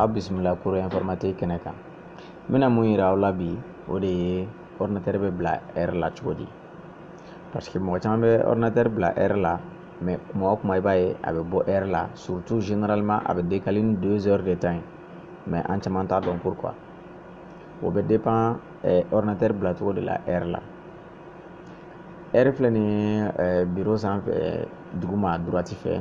aw bisimila cours informatique kɛnɛ kan n bɛna mun yira aw la bi o de ye ordinateur bɛ bila heure la cogo di parce que mɔgɔ caman bɛ ordinateur bila heure la mais kuma o kuma i b'a ye a bɛ bɔ heure la surtout généralement a bɛ décaler ni deux heures de temps ye mais an caman t'a dɔn pourquoi o bɛ dépend eh, ordinateur bila cogo de la heure la heure filɛ nin ye eh, biro sanfɛ duguma droite fɛ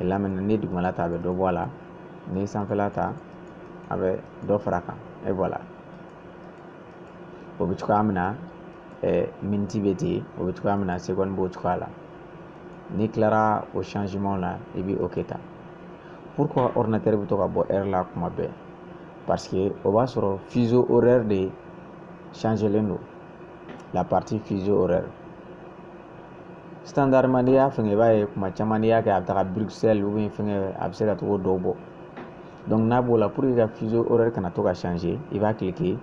là maintenant n'i ye dugumala ta a bɛ dɔ bɔ a la n'i ye sanfɛla ta a bɛ dɔ fara a kan et voilà o bɛ cogoya min na miniti bɛ ten o bɛ cogoya min na seconde b'o cogoya la n'i tilara o changement la i bɛ OK ta pourquoi ordinateur bɛ to ka bɔ heure la kuma bɛɛ parce que o b'a sɔrɔ fuseau horaire de changelen don la partie fuseau horaire standardement n'i y'a fɛngɛ i b'a ye kuma caman n'i y'a kɛ a bɛ taga Bruxelles ou bien fɛngɛ a bɛ se ka tɔgɔ dɔw bɔ donc n'a b'o la pour que ka fuseau horaire kana to ka changer i b'a cliquer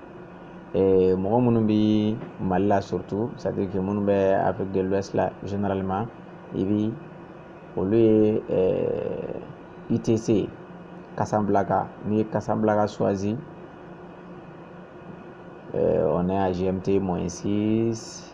eh, mɔgɔ minnu bɛ Mali la surtout c'est à dire que minnu bɛ Afrique de l'Ouest la généralement i bɛ olu ye eh, UTC Casablanca n'i ye Casablanca choisi eh, on est à GMT moins 6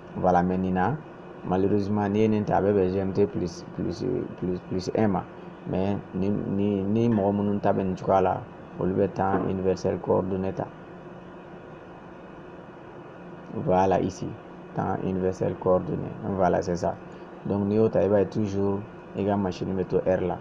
voilà maintenant malheureusement n'i ye nin ta a bɛ bɛn gmt plus plus plus plus 1 ma mais ni ni ni mɔgɔ minnu ta bɛ nin cogoya la olu bɛ temps universel coordonné ta voilà ici temps universel coordonné voilà c'est ça donc n'i y'o ta i b'a ye toujours i ka machine bɛ to heure la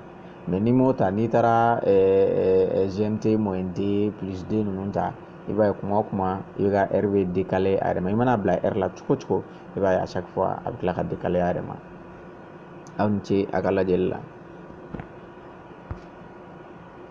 mais n'i m'o ta n'i taara gmt moins 2 plus 2 ninnu ta i b'a ye kuma o kuma i ka heure bɛ décaler a yɛrɛ ma i mana bila heure la cogo o cogo i b'a ye à chaque fois a bɛ tila ka décaler a yɛrɛ ma aw ni ce a ka lajɛli la